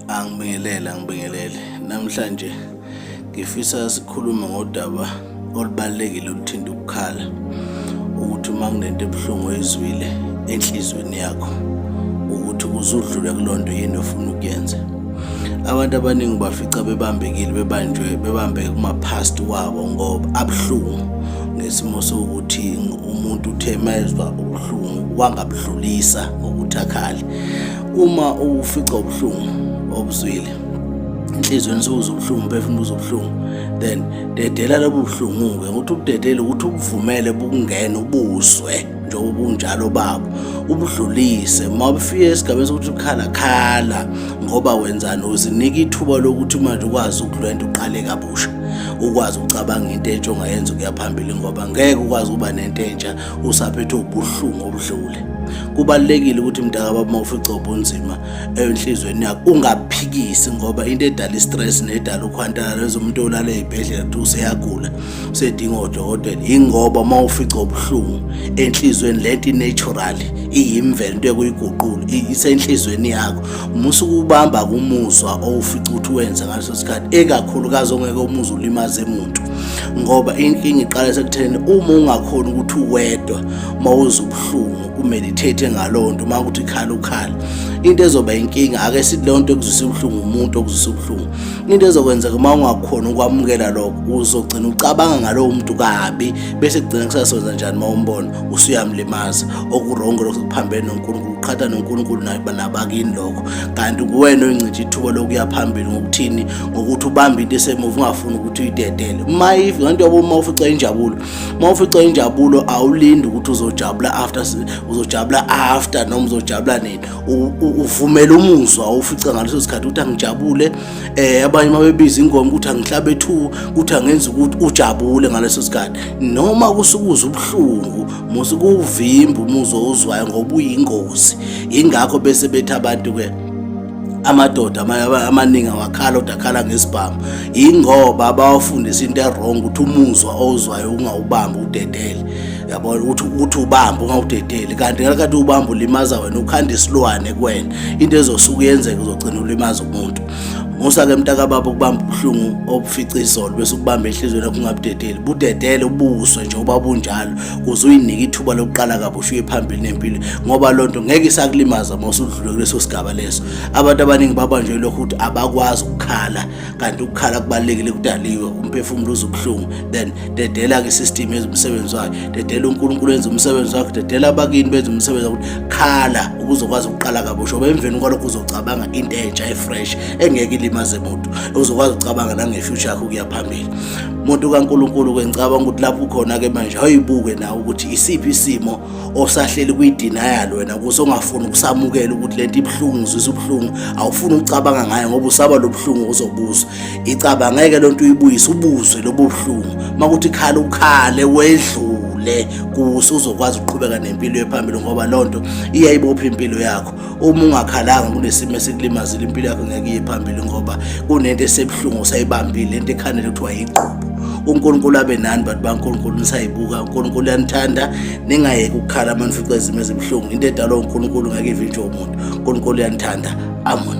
Angibingelele, angibingelele. Namhlanje ngifisa sikhulume ngodaba olubalulekile oluthinta ukukhala ukuthi uma kunento ebuhlungu oyizwile enhlizweni yakho ukuthi ukuze udlule kulo nto yini ofuna ukuyenza abantu abaningi bafica bebambekile bebanjwe bebambeke kuma-past wabo ngoba abuhlungu ngesimo sokuthi umuntu uthe mayezwa ubuhlungu wangabudlulisa ngokuthi akhale uma ufica ubuhlungu obuzwile enhlizweni suze ubuhlungu umphefumulo uze ubuhlungu then dedela lobu buhlungu-ke ukuthi ubudedele ukuthi ubuvumele bukungena ubuzwe njengoba ubunjalo babo ubudlulise uma bufike esigabeni sokuthi ukhala khala ngoba wenzani uzinika ithuba lokuthi manje ukwazi ukulwenta uqale kabusha ukwazi ukucabanga into entsha ongayenza ukuya phambili ngoba ngeke ukwazi ukuba nento entsha usaphethwe ubuhlungu obudlule kubalekile ukuthi mntaka baba mawufica ubunzima enhlizweni yakho ungaphikisi ngoba into edala istress nedala ukhwantala lezomuntu olala ezibhedlela kuthi useyagula usedinga odokotela ingoba mawufica ubuhlungu enhlizweni lento inatural iyimvelo into ekuyiguqula isenhlizweni yakho musa ukubamba kumuzwa owufica ukuthi wenze ngaleso sikhathi ekakhulukazi ongeke umuzi ulimaze muntu ngoba inkinga iqala sekutheni uma ungakhona ukuthi uwedwa uma uze ubuhlungu umeditate ngalowo nto uma ukuthi khala ukhala into ezoba inkinga ake sithi leyo nto ekuzwisa ubuhlungu umuntu okuzwisa ubuhlungu into ezokwenzeka uma ungakhona ukwamukela lokho uzogcina ucabanga ngalowo muntu kabi bese kugcina kusasonza njani uma umbona usuyamlimaza okurongo lokho kuphambene nonkulunkulu uqhatha nonkulunkulu nabakini lokho kanti kuwena oyincitha ithuba lokuya phambili ngokuthini ukuthi ubambe into esemuva ungafuni ukuthi uyidedele uma ngento yabo uma ufica injabulo uma ufica injabulo awulindi ukuthi uzojabula after uzojabula after noma uzojabula nini uvumela umuzwa ufica ngaleso sikhathi ukuthi angijabule eh abanye uma bebiza ingoma ukuthi angihlabe two ukuthi angenza ukuthi ujabule ngaleso sikhathi noma kusukuza ubuhlungu musu kuvimba umuzwa ozwayo ngoba uyingozi ingakho bese bethi abantu ke amadoda amaningi awakhala kodwa akhala ngesibhamu yingoba abawafundisa into erong ukuthi umuzwa owuzwayo ungawubambi udedele yabona ukuthi ukuthi ubamba ungawudedeli kanti ngalakathi ubamba ulimaza wena ukhanda isilwane kuwena into ezosuka uyenzeka uzogcina ulimaza umuntu musa-ke mntakababa ukubamba ubuhlungu obufica izolo bese ukubamba enhliziyweni yakho ungabudedeli budedele ubuswe njengoba bunjalo kuze uyinika ithuba lokuqala kabusha uye phambili nempilo ngoba loo nto ngeke isakulimaza uma usudlule kuleso sigaba leso abantu abaningi babanjwe lokho ukuthi abakwazi ukukhala kanti ukukhala kubalulekile kudaliwe umphefumulo uze ubuhlungu then dedela-ke isystem yenza umsebenzi wayo dedela unkulunkulu enza umsebenzi wakho dedela abakini benza umsebenzi wakuthi khala ukuze ukwazi ukuqala kabusha oba emveni kwalokho uzocabanga into entsha efresh engeke ilimaze muntu uzokwazi ukucabanga nangefuture yakho ukuya phambili muntu kaNkuluNkulu ke ngicabanga ukuthi lapho ukhona ke manje ayibuke na ukuthi isiphi isimo osahleli kuyidenial wena kuso ongafuni ukusamukela ukuthi lento ibhlungu zisa ubhlungu awufuni ukucabanga ngayo ngoba usaba lobhlungu ozobuza icaba ngeke lonto uyibuyise ubuzwe lobhlungu makuthi khala ukhale wedlule le kuso uzokwazi ukuqhubeka nempilo ephambili ngoba lonto iyayibopha impilo yakho uma ungakhalanga kunesimo esikulimazile impilo yakho ngeke iye phambili ngoba kunento esebuhlungu usayibambile lento ekhanele kuthiwa yigqubo unkulunkulu abe nani bantu bankulunkulu nisayibuka unkulunkulu uyanithanda ningayeki ukukhala uma nifica izimo ezibuhlungu into edalwa unkulunkulu ngeke ivinjwe umuntu unkulunkulu uyanithanda amen